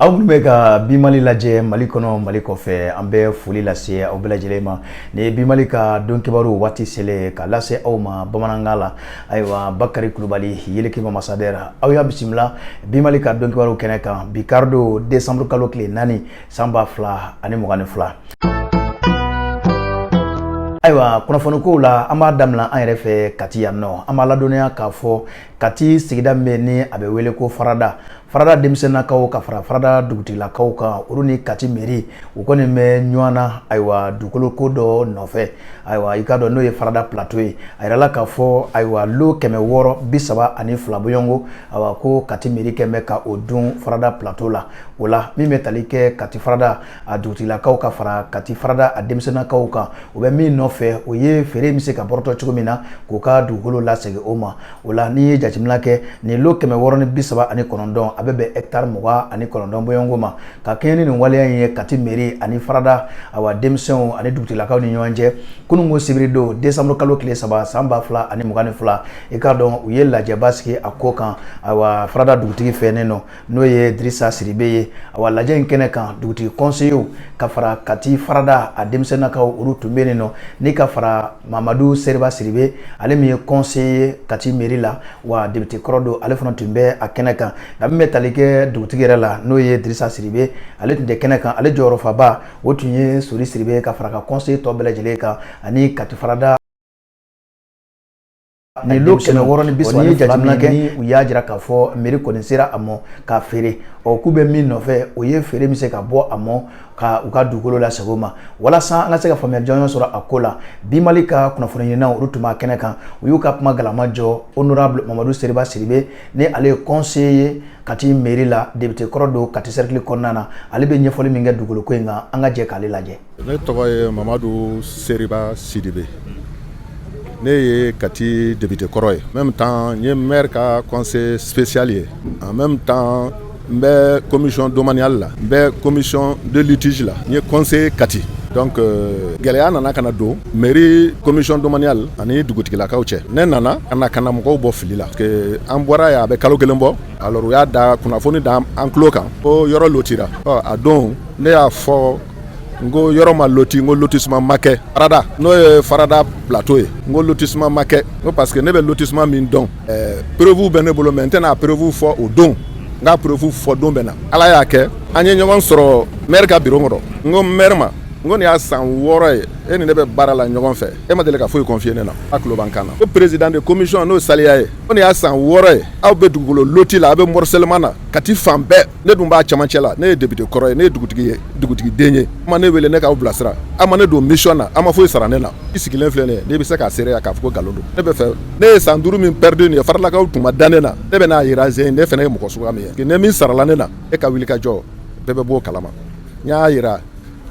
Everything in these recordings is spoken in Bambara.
aw minnu bɛ ka bimali lajɛ mali kɔnɔ mali kɔfɛ an bɛ foli lase aw bɛɛ lajɛlen ma nin ye bimali ka don kibaru waati selen ka lase aw ma bamanankan la ayiwa bakari kulubali yelekema masadɛra aw y'a bisimila bimali ka don kibaru kɛnɛ kan bi karidon desanburukalo tile naani san ba fila ani mugan ni fila ayiwa kunnafoni kow la an b'a daminɛ an yɛrɛ fɛ kati yan nɔ an b'a ladɔnniya k'a fɔ kati sigida min bɛ ni a bɛ wele ko farada farada denmisɛnnakaw ka fara farada dugutigilakaw kan olu ni kati meri u kɔni bɛ ɲɔgɔn na ayiwa dugukolo ko dɔ nɔfɛ ayiwa i k'a dɔn n'o ye farada plateau ye a yirala k'a fɔ ayiwa lo kɛmɛ wɔɔrɔ bi saba ani fila bɔɲɔgɔnko ayiwa ko kati meri kɔni bɛ ka o dun farada plateau la O la min bɛ tali kɛ kati farada a dugutigilakaw ka fara kati farada a denmisɛnnakaw kan o bɛ min nɔfɛ o ye feere bɛ se ka bɔtɔ cogo min na k'u ka dugukolo lasegin u ma o la n'i ye jateminɛ kɛ nin lo kɛmɛ wɔɔrɔ ni bi saba ani kɔnɔntɔn a bɛ bɛn taari mugan ani kɔnɔntɔn bɔɲɔgɔnko ma ka kɛɲɛ ni nin waleya in ye kati meri ani farada awa denmisɛnw ani dugutigilakaw ni ɲɔgɔn cɛ kunun ko sibiri don desanburukalo tile saba san ba fila ani mugan ni fila i k'a dɔn u ye lajɛba sigi a ko kan a farada dugutigi fɛ nin nɔ n'o ye dirisa sidibe ye awa lajɛ in kɛnɛ kan dugutigi kɔnseyew ka fara kati farada a denmisɛnnakaw olu tun bɛ nin nɔ ni ka fara mamadu seriba sidibe ale min ye kɔnseye ye kati meri la wa depite kɔrɔ don ale fana tun bɛ a kɛnɛ kan nka min bɛ tali kɛ dugutigi yɛrɛ la n'o ye dirisa sidibe ale tun tɛ kɛnɛ kan ale jɔyɔrɔfabaa o tun ye sori sidibe ka fara ka kɔnseye tɔ bɛɛ lajɛlen kan ani kati farada Nin lo kɛmɛ wɔɔrɔ ni bi saba ni fila min kɔni, u y'a jira k'a fɔ mairie kɔni sera a mɔ k'a feere, ɔ k'u bɛ min nɔfɛ o ye feere bɛ se ka bɔ a mɔ ka u ka dugukolo lasegin u ma walasa an ka se ka faamuya jɔnjɔn sɔrɔ a ko la, Bimali ka kunnafoni ɲininaw olu tun b'a kɛnɛ kan, u y'u ka kuma galama jɔ honorable Mamadu Seriba Sidibe ni ale ye conseiller ye Kati mairie la, député kɔrɔ don Kati cercle kɔnɔna na, ale bɛ ɲɛfɔli min kɛ dugukolo ko in kan, an ka jɛ k'ale lajɛ. ne tɔgɔ ye mamadu seriba sidibe ne ye kati depite kɔrɔ ye en même temps n ye mɛri ka conseiller spécial ye en même temps n bɛ commission domaniale la n bɛ commission de litige la n ye conseiller kati donc gɛlɛya nana ka na don meri commission domaniale ani dugutigilakaw cɛ ne nana ka na kana mɔgɔw bɔ fili la parce que an bɔra yan a bɛ kalo kelen bɔ alors u y'a da kunnafoni da an tulo kan ko yɔrɔ lotira a don ne y'a fɔ n ko yɔrɔ ma loti n ko lotissement ma kɛ farada n'o ye farada plateau ye n ko lotissement ma kɛ n ko parce que ne bɛ lotissement min dɔn ɛɛ preuve bɛ ne bolo mais n tɛna a preuve fɔ o don n ka preuve fɔ don bɛ na ala y'a kɛ an ye ɲɔgɔn sɔrɔ maire ka biro kɔnɔ n ko maire ma n ko nin y'a san wɔɔrɔ ye e ni ne bɛ baara la ɲɔgɔn fɛ e ma deli ka foyi confier ne na a tulo b'an kan na ko président de commission n'o saliya ye ko nin y'a san wɔɔrɔ ye aw bɛ dugukolo loti la aw bɛ morcellement na kati fan bɛɛ ne dun b'a caman cɛ la ne ye député kɔrɔ ye ne ye dugutigi ye dugutigi den ye ma ne wele ne k'aw bilasira a ma ne don mission na a ma foyi sara ne na i sigilen filɛ ne ne bɛ se k'a se yan k'a fɔ ko nkalon don ne bɛ fɛ ne ye san duuru min perdu ye faradakaw tun ma da ne na ne bɛ n'a jira ze ne fana ye mɔgɔ suya min ye ni min sarala ne na e ka wuli ka jɔ bɛɛ bɛ bɔ o kalama n y'a jira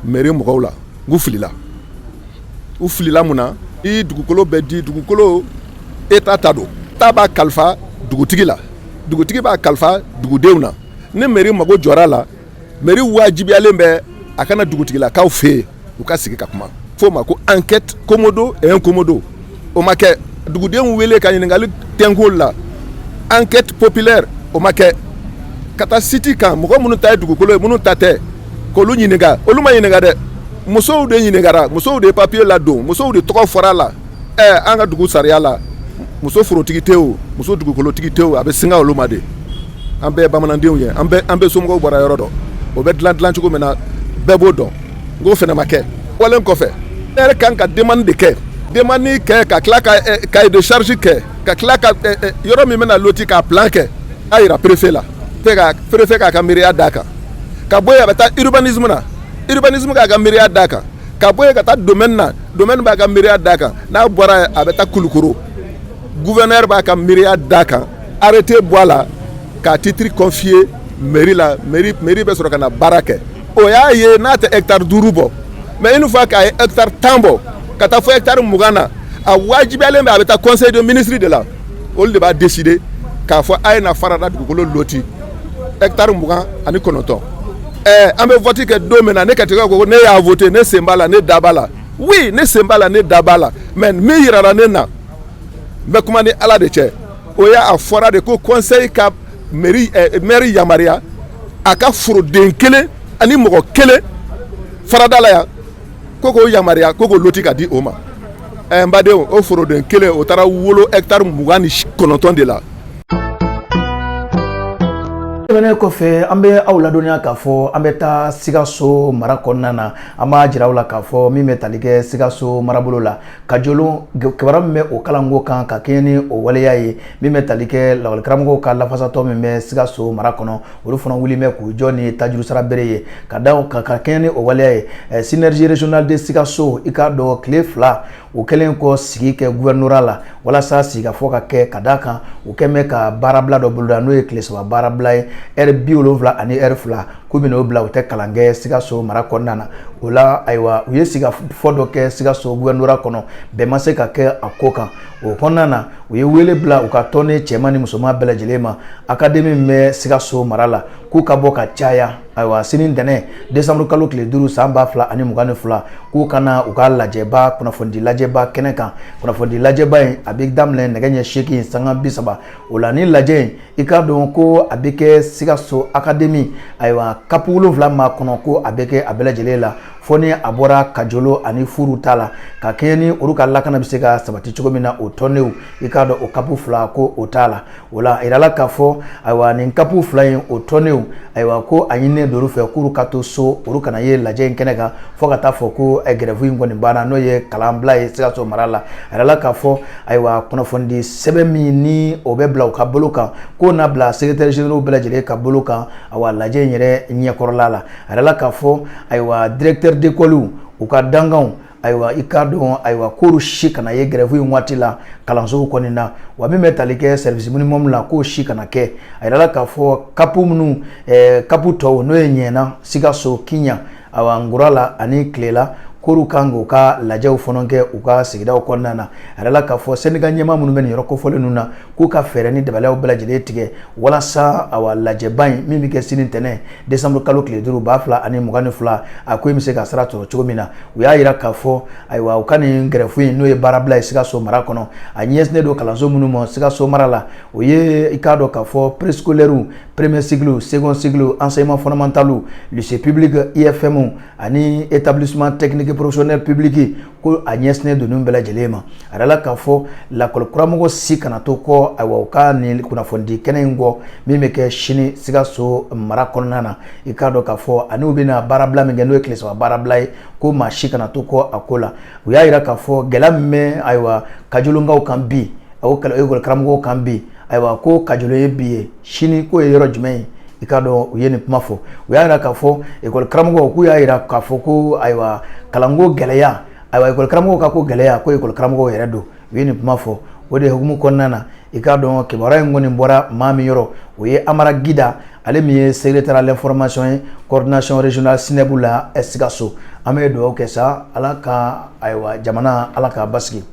mairie mɔgɔw la u filila u filila mun na i dugukolo bɛ di dugukolo État ta don État b'a kalifa dugutigi la dugutigi b'a kalifa dugudenw na ni mairie mago jɔra la mairie wajibiyalen bɛ a ka na dugutigilakaw fɛ yen u ka sigi ka kuma f'o ma ko enquête commodo et incommodo o ma kɛ dugudenw wele ka ɲininkali tɛnko la enquête populaire o ma kɛ ka taa site kan mɔgɔ minnu ta ye dugukolo ye minnu ta tɛ k'olu ɲininka olu ma ɲininka dɛ musow de ɲininkara musow de ye papiye ladon musow de tɔgɔ fɔra a la an ka dugu sariya la muso forotigi tɛ o muso dugukolotigi tɛ o a bɛ singa olu ma de an bɛɛ bamanandenw ye an bɛ somɔgɔw bɔra yɔrɔ dɔn o bɛ dilan dilan cogo min na bɛɛ b'o dɔn n k'o fana ma kɛ walen kɔfɛ maire kan ka demande de kɛ demande kɛ ka tila ka eh, cahier de charge kɛ ka tila ka eh, eh, yɔrɔ min bɛna loti k'a plan kɛ a jira préfet la préfet k'a ka miiriya d'a kan ka bɔ yen a bɛ taa urbanisme na urbanisme k'a ka miiriya d'a kan ka bɔ yen ka taa domaine na domaine b'a ka miiriya d'a kan n'a bɔra yen a bɛ taa kulukɔrɔ gouverneur b'a ka miiriya d'a kan arrêté bɔ a la k'a titre confier mairie la mairie mairie bɛ sɔrɔ ka na baara kɛ o y'a ye n'a tɛ hectare duuru bɔ mais une fois k'a ye hectare tan bɔ ka taa fo hectare mugan na a wajibiyalen bɛ a bɛ taa conseil de ministre de la olu de b'a décider k'a fɔ a ye na farada dugukolo loti hectare mugan ani kɔnɔntɔn ɛɛ an bɛ vote kɛ don min na ne Katikɛ ko ne y'a vote ne sen b'a la ne da b'a la oui ne sen b'a la ne da b'a la mais min yirara ne na n bɛ kuma ni Ala de cɛ o y'a a fɔra de ko conseil ka mairie ɛɛ maire yamaruya a ka foroden kelen ani mɔgɔ kelen farada la yan. ko k'o yamaruya ko k'o loti k'a di o ma ɛɛ eh, n badenw o foroden kelen o taara wolo hɛkitari mugan ni kɔnɔntɔn de la tɛmɛnen kɔfɛ an bɛ aw ladɔnniya k'a fɔ an bɛ taa sikaso mara kɔnɔna na an b'a jira aw la k'a fɔ min bɛ tali kɛ sikaso marabolo la kajolo kibaruya min bɛ o kalanko kan ka kɛɲɛ ni o waleya ye min bɛ tali kɛ lakɔlikaramɔgɔw ka lafasatɔn min bɛ sikaso mara kɔnɔ olu fana wulilen bɛ k'u jɔ ni tajuru sara bere ye ka da ka ka kɛɲɛ ni o waleya ye eh, synergie régionale de sikaso i k'a dɔn tile fila u kɛlen kɔ sigi kɛ gouvernorat la walasa sigikafɔ ka kɛ ka da kan u kɛlen bɛ ka baarabila dɔ boloda n'o ye tile saba baarabila ye ɛri bi wolonwula ani ɛri fila k'u bɛn'o bila u tɛ kalan kɛ sikaso mara kɔnɔna na o la ayiwa u ye sigikafɔ dɔ kɛ sikaso gouvernorat kɔnɔ bɛn ma se ka kɛ a ko kan o kɔnɔna na u ye wele bila u ka tɔnden cɛman ni musoman bɛɛ lajɛlen ma akademi min bɛ sikaso mara la k'u ka bɔ ka caya ayiwa sini ntɛnɛn desanburu kalo tile duuru san ba fila ani mugan ni fila k'u ka na u ka lajɛba kunnafonidi lajɛba kɛnɛ kan kunnafonidi lajɛba in a bɛ daminɛ nɛgɛ ɲɛ seegin sanga bi saba o la nin lajɛ in i k'a dɔn ko a bɛ kɛ sikaso akademi ayiwa kapu wolonwula ma kɔnɔ ko a bɛ kɛ a bɛɛ lajɛlen la fo ni a bɔra kajolo ani furu ta la ka kɛɲɛ ni olu ka lakana bɛ se ka sabati cogo min na o tɔndenw i k'a dɔn o kapu fila ko o t'a la o la a yirala k'a fɔ ayiwa nin kapu fila in o tɔndenw ayiwa ko a ɲininen don u fɛ k'olu ka to so olu kana ye lajɛ in kɛnɛ kan fo ka taa fɔ ko eh, gɛrɛfu in kɔni banna n'o ye kalanbila ye sikaso mara la a yirala k'a fɔ ayiwa kunnafonidi sɛbɛn min ni o bɛ bila u ka bolo kan k'o na bila sekeretɛri zeneraliw bɛɛ lajɛlen ka bolo kan ayiwa lajɛ in yɛrɛ ɲɛkɔrɔla la A yirala k'a fɔ ayiwa directeur d'écolew u ka dankanw ayiwa i k'a dɔn ayiwa k'o si kana ye gɛrɛfu in waati la kalansow kɔnɔna wa min bɛ tali kɛ service minimum la k'o si kana kɛ a yirala k'a fɔ kapu minnu kapu tɔw n'o ye ɲɛna sikaso kiɲan nkurala ani kelela k'olu kan k'u ka lajɛw fana kɛ u ka sigida kɔnɔna na a yirala k'a fɔ sɛndika ɲɛmaa minnu bɛ nin yɔrɔ kofɔlen ninnu na k'u ka fɛɛrɛ ni dabaliyaw bɛɛ lajɛlen tigɛ walasa awa lajɛba in min bɛ kɛ sini ntɛnɛn desanburu kalo tile duuru ba fila ani mugan ni fila a ko in bɛ se ka sira sɔrɔ cogo min na u y'a jira k'a fɔ ayiwa u ka nin gɛrɛfu in n'o ye baarabila ye sikaso mara kɔnɔ a ɲɛsinnen don kalanso minnu ma sikaso mara la o ye i k'a dɔn k'a fɔ préscolaire premier cycle second cycle enseignement fondamental lycée public IFM ani établissement technique professionnel public ko a ɲɛsinnen don ninnu bɛɛ lajɛlen ma a yirala k'a fɔ lakɔli karamɔgɔ si kana to kɔ ayiwa u ka nin kunnafonidi kɛnɛ in kɔ min bɛ kɛ sini sikaso mara kɔnɔna na i k'a dɔn k'a fɔ ani u bɛna baarabila min kɛ n'o ye tile saba baarabila ye ko maa si kana to kɔ a ko la u y'a jira k'a fɔ gɛlɛya min bɛ ayiwa kajolonkaw kan bi o ekɔli karamɔgɔw kan bi ayiwa ko kajolo ye bi ye sini k'o ye yɔrɔ jumɛn ye i k'a dɔn u ye nin kuma fɔ u y'a jira k'a fɔ ekɔli karamɔgɔ k'u y'a jira k'a fɔ ko ayiwa kalanko gɛlɛya ayiwa ekɔli karamɔgɔ ka ko gɛlɛya ko ekɔli karamɔgɔ yɛrɛ don u ye nin kuma fɔ o de hukumu kɔnɔna na i k'a dɔn kibaruya in kɔni bɔra maa min yɔrɔ o ye amara gida ale min ye secrétaire à l'information ye coordination régionale SYNEB la sikaso an bɛ dugawu kɛ sa ala ka ayiwa jamana ala k'a basi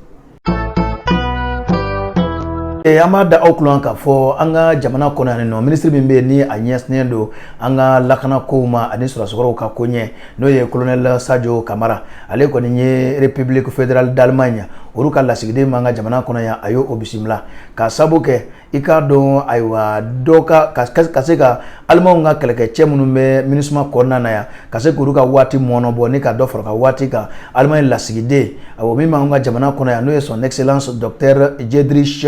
Eh, an b'a da aw kulo kan k'a fɔ an ka jamana kɔnɔ yan nɔ minisiri min bɛ yen ni a ɲɛsinnen don an ka lakana kow ma ani sɔrɔdasi kɔrɔw ka koɲɛ n'o ye kolonɛli sajo kamara ale kɔni ye republique fédérale d'allemagne olu ka lasigiden min b'an ka jamana kɔnɔ yan a y'o bisimila k'a sabu kɛ i k'a dɔn ayiwa dɔ ka ka se ka alimaw ka kɛlɛkɛcɛ minnu bɛ minisuma kɔnɔna na yan ka se k'olu ka waati mɔnɔ bɔ ni ka dɔ fara ka waati kan alimayi lasigiden ayiwa min b'an ka jamana kɔnɔ yan n'o ye son excellence docteur dietrich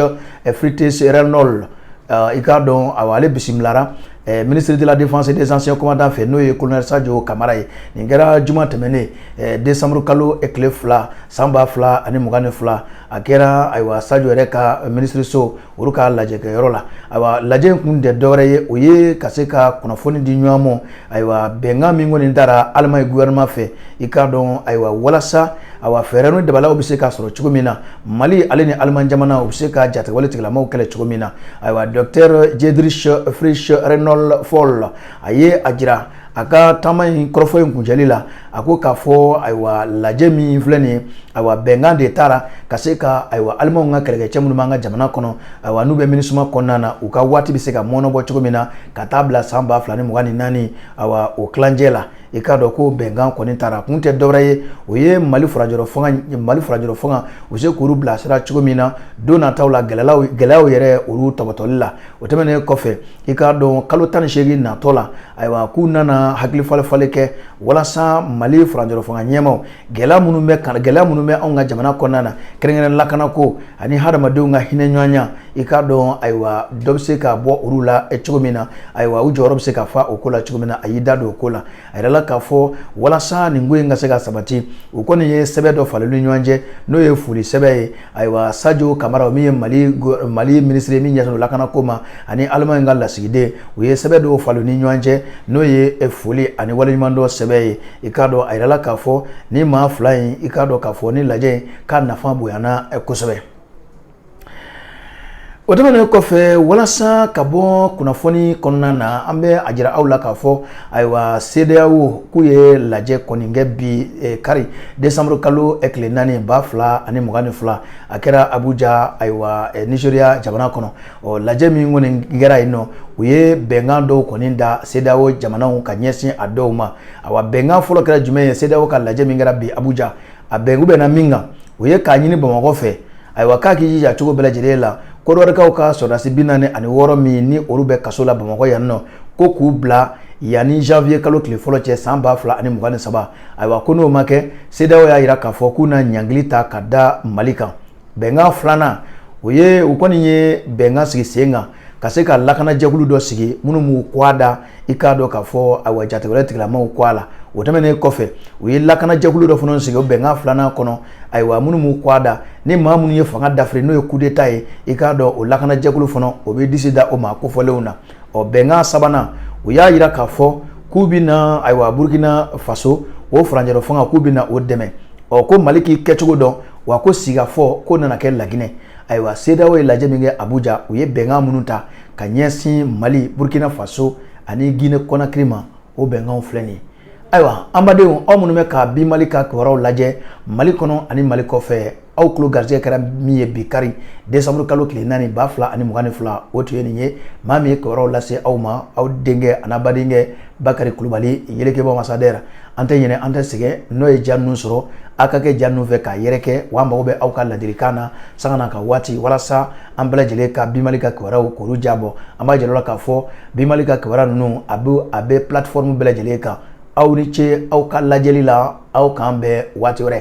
fritz reinhold pohl i k'a dɔn ayiwa ale bisimilara Eh, ministre de la défense et des anciens combattants fɛ n'o ye colonel sajo kamara ye nin kɛra juma tɛmɛnen eh, décembre kalo tile fila san ba fila ani mugan ni fila a kɛra ayiwa sajo yɛrɛ ka minisiriso olu ka lajɛkɛyɔrɔ la ayiwa lajɛ in kun tɛ dɔwɛrɛ ye o ye ka se ka kunnafoni di ɲɔgɔn ma ayiwa bɛnkan min kɔni tara alimayi gouvernement fɛ i k'a dɔn ayiwa walasa ayiwa fɛɛrɛ ni dabaliw bɛ se ka sɔrɔ cogo min na mali ale ni alimayi jamana u bɛ se ka jatigɛwale tigilamaw kɛlɛ cogo min na ayiwa docteur dietrich fritz reinhold pohl a ye a jira a ka taama in kɔrɔfɔ in kuncɛli la a ko k'a fɔ ayiwa lajɛ min filɛ nin ye ayiwa bɛnkan de tara ka se ka ayiwa alimaw ka kɛlɛkɛcɛ minnu b'an ka jamana kɔnɔ ayiwa n'u bɛ minisuma kɔnɔna na u ka waati bɛ se ka mɔnɔbɔ cogo min na ka taa bila san ba fila ni mugan ni naani ayiwa o tilancɛ la i k'a dɔn ko bɛnkan kɔni tara kun tɛ dɔwɛrɛ ye o ye mali furajɔrɔ fanga mali furajɔrɔ fanga u se k'olu bilasira cogo min na don nataw la gɛlɛyaw gɛlɛyaw yɛrɛ olu tɔpɔtɔli la o tɛmɛnen kɔfɛ i k'a dɔn kalo tan ni seegin natɔ la ayiwa k'u nana hakili falenfalen kɛ walasa mali faranjɔrɔ fanga ɲɛmaaw gɛlɛya minnu bɛ kan gɛlɛya minnu bɛ anw ka jamana kɔnɔna na kɛrɛnkɛrɛn lakana ko ani hadamadenw ka hinɛ ɲɔgɔnya i k'a dɔn ayiwa dɔ bɛ se ka bɔ olu la cogo min na ayiwa u jɔyɔrɔ bɛ se ka fa o ko la cogo min na a y'i da don o ko la a yirala k'a fɔ walasa nin ko in ka se ka sabati u kɔni ye sɛbɛn dɔ falen ni ɲɔgɔn cɛ n'o ye foli sɛbɛn ye ayiwa sajo kamara min ye mali mali minisiri min ɲɛsinnen lakana ko ma ani alimayi ka lasigiden u ye sɛbɛn dɔw falen ni ɲɔgɔn cɛ n'o ye eh, foli ani waleɲumandɔn sɛbɛn ye i k'a dɔn a yirala k'a fɔ nin maa fila in i k'a dɔn k'a fɔ nin lajɛ in k'a nafa bonyana eh, kosɛbɛ O tɛmɛnen kɔfɛ walasa ka bɔ kunnafoni kɔnɔna na an bɛ a jira aw la k'a fɔ ayiwa CEDEAO k'u ye lajɛ kɔni kɛ bi eh, kari décembre kalo eh, tile naani ba fila ani mugan ni fila a kɛra Abuja ayiwa eh, Nigeria jamana kɔnɔ ɔ lajɛ min kɔni kɛra yen nɔ u ye bɛnkan dɔw kɔni ta CEDEAO jamanaw ka ɲɛsin a dɔw ma awa bɛnkan fɔlɔ kɛra jumɛn ye CEDEAO ka lajɛ min kɛra bi Abuja a bɛn k'u bɛnna min kan o ye k'a ɲini bamakɔ fɛ ayiwa k'a k'i jija cogo bɛɛ lajɛlen la kodiwarikaw ka sɔrɔdasi bi naani ani wɔɔrɔ min ni olu bɛ kaso la bamakɔ yan nɔ ko k'u bila yanni janvier kalo tile fɔlɔ cɛ san ba fila ani mugan ni saba ayiwa ko n'o ma kɛ CEDEAO y'a jira k'a fɔ k'u na ɲangili ta ka da mali kan bɛnkan filanan o ye u kɔni ye bɛnkan sigi sen kan ka se ka lakanajɛkulu dɔ sigi minnu b'u kɔgɔ da i k'a dɔn k'a fɔ ayiwa jatigɛwale tigilamaw kɔgɔ la o tɛmɛnen kɔfɛ u ye lakanajɛkulu dɔ fana sigi o bɛnkan filanan kɔnɔ ayiwa minnu b'u kɔgɔ da ni maa minnu ye fanga dafiri n'o ye kudeta ye i k'a dɔn o lakanajɛkulu fana o bɛ disi da o maa kofɔlenw na ɔ bɛnkan sabanan u y'a jira k'a fɔ k'u bɛ na ayiwa burukina faso o furancɛla fanga k'u bɛ na o dɛmɛ ɔ ko mali k'i kɛcogo dɔn wa ko sigikafɔ ko nana kɛ laginɛ ayiwa sedeyawo ye lajɛ min kɛ abuja u ye bɛnkan minnu ta ka ɲɛsin mali burukina faso ani gine kɔnakiri ma o bɛnkanw filɛ nin ye ayiwa anbadenw aw minnu bɛ ka bi mali ka kibaruyaw lajɛ mali kɔnɔ ani mali kɔfɛ aw tulo garijɛgɛ kɛra min ye bi kari desanburu kalo tile naani ba fila ani mugan ni fila o tun ye nin ye maa min ye kibaruyaw lase aw ma aw denkɛ ani badenkɛ bakari kulubali yelekebugu masadɛra an tɛ ɲinɛ an tɛ sɛgɛn n'aw ye ja ninnu sɔrɔ aw ka kɛ ja ninnu fɛ k'a yɛrɛkɛ wa an mago bɛ aw ka ladilikan na sanga ani ka waati walasa an bɛɛ lajɛlen ka bi mali ka kibaruyaw k'olu jabɔ an b'a jira aw la k'a fɔ bi mali ka kibaruya ninnu a bɛ a bɛ platform bɛɛ lajɛlen kan aw ni ce aw ka lajɛli la aw k'an bɛn waati wɛrɛ